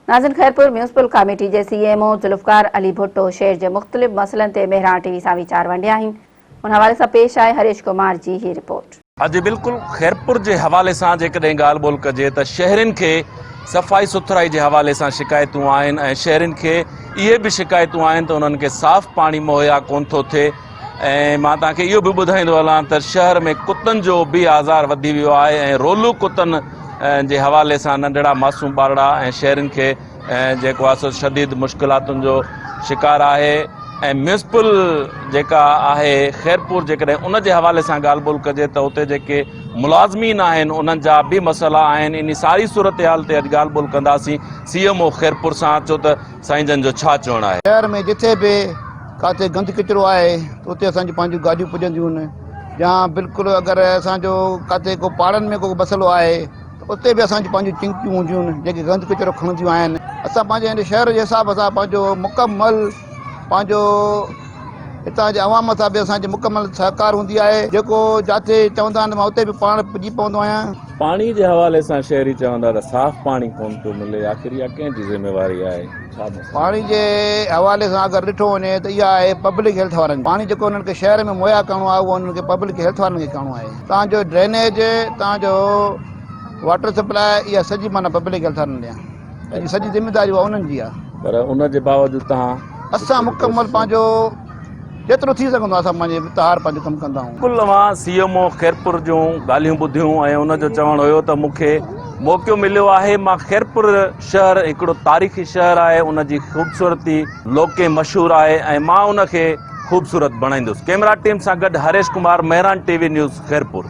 ناظرين Khairpur municipal committee جي C M O Zulfiqar Ali Bhutto شهر جي مختلف مسئلن تي مهراڻ ٽي وي سان ويچار ونڊيا آهن ان حوالي سان پيش آهي هريش ڪمار جي هي رپورٽ. ها جي بلڪل خيرپور جي حوالي سان جيڪڏهن ڳالهه ٻولهه ڪجي ته شهرين کي صفائي سٿرائي جي حوالي سان شڪايتون آهن ۽ شهرين کي اهي به شڪايتون آهن ته انهن کي صاف پاڻي مهيا ڪون ٿو ٿئي ۽ مان توهان کي اهو به ٻڌائيندو هلان ته شهر ۾ ڪتن جو به آزار وڌي ويو آهي ۽ رولو ڪتن جي حوالي سان ننڍڙا معصوم ٻارڙا ۽ شهرين کي جيڪو آهي سو شديد مشڪلاتن جو شڪار آهي ۽ ميونسپل جيڪا آهي خيرپور جيڪڏهن ان جي حوالي سان ڳالهه ٻولهه ڪجي ته اتي جيڪي ملازمين آهن انهن جا به مسئلا آهن ان ساري صورتحال تي اڄ ڳالهه ٻولهه ڪنداسين سي ايم او خيرپور سان اچو ته سائين جن جو ڇا چوڻ آهي شهر ۾ جٿي به ڪاٿي گند ڪچرو آهي ته اتي اسان جون پنهنجون گاڏيون پڄنديون آهن يا بلڪل اگر اسان جو ڪاٿي ڪو پاڙن ۾ ڪو مسئلو آهي ته اتي به اسان جون پنهنجون چنگيون هونديون آهن جيڪي گند ڪچرو کڻنديون آهن اسان پنهنجي هن شهر جي حساب سان پنهنجو مڪمل پنهنجو هتان جي عوام سان به اسان جي مڪمل سهڪار هوندي آهي جيڪو جاٿي چوندا آهن ته مان اتي به پاڻ پڄي پوندو آهيان. پاڻي جي حوالي سان شهري چوندا ته صاف پاڻي ڪونه ٿو ملي آخر اها ڪنهن جي ذميواري آهي؟ پاڻي جي حوالي سان اگر ڏٺو وڃي ته اها آهي پبلڪ هيلٿ وارن جي پاڻي جيڪو انهن کي شهر ۾ مهيا ڪرڻو آهي اهو انهن کي پبلڪ هيلٿ وارن کي ڪرڻو آهي تان جو ڊرينيج تان جو واٽر سپلاء اها سڄي معنيٰ پبلڪ هيلٿ وارن ڏيان ان جي سڄي ذميواري اها انهن جي آهي پر ان جي باوجود تان اسان مڪمل پنهنجو جيترو ٿي سگهندو آهي اسان پنهنجي تهار پنهنجو ڪم ڪندا آهيون. ڪل اوهان سي ايم او خيرپور جون ڳالهيون ٻڌيون ۽ ان جو چوڻ هيو ته مون کي موقعو مليو آهي مان خيرپور شهر هڪڙو تاريخي شهر آهي ان جي خوبصورتي لوڪين مشهور آهي ۽ مان ان کي خوبصورت بڻائيندس ڪيمرا ٽيم سان گڏ Harish Kumar Mehran T V news Khairpur.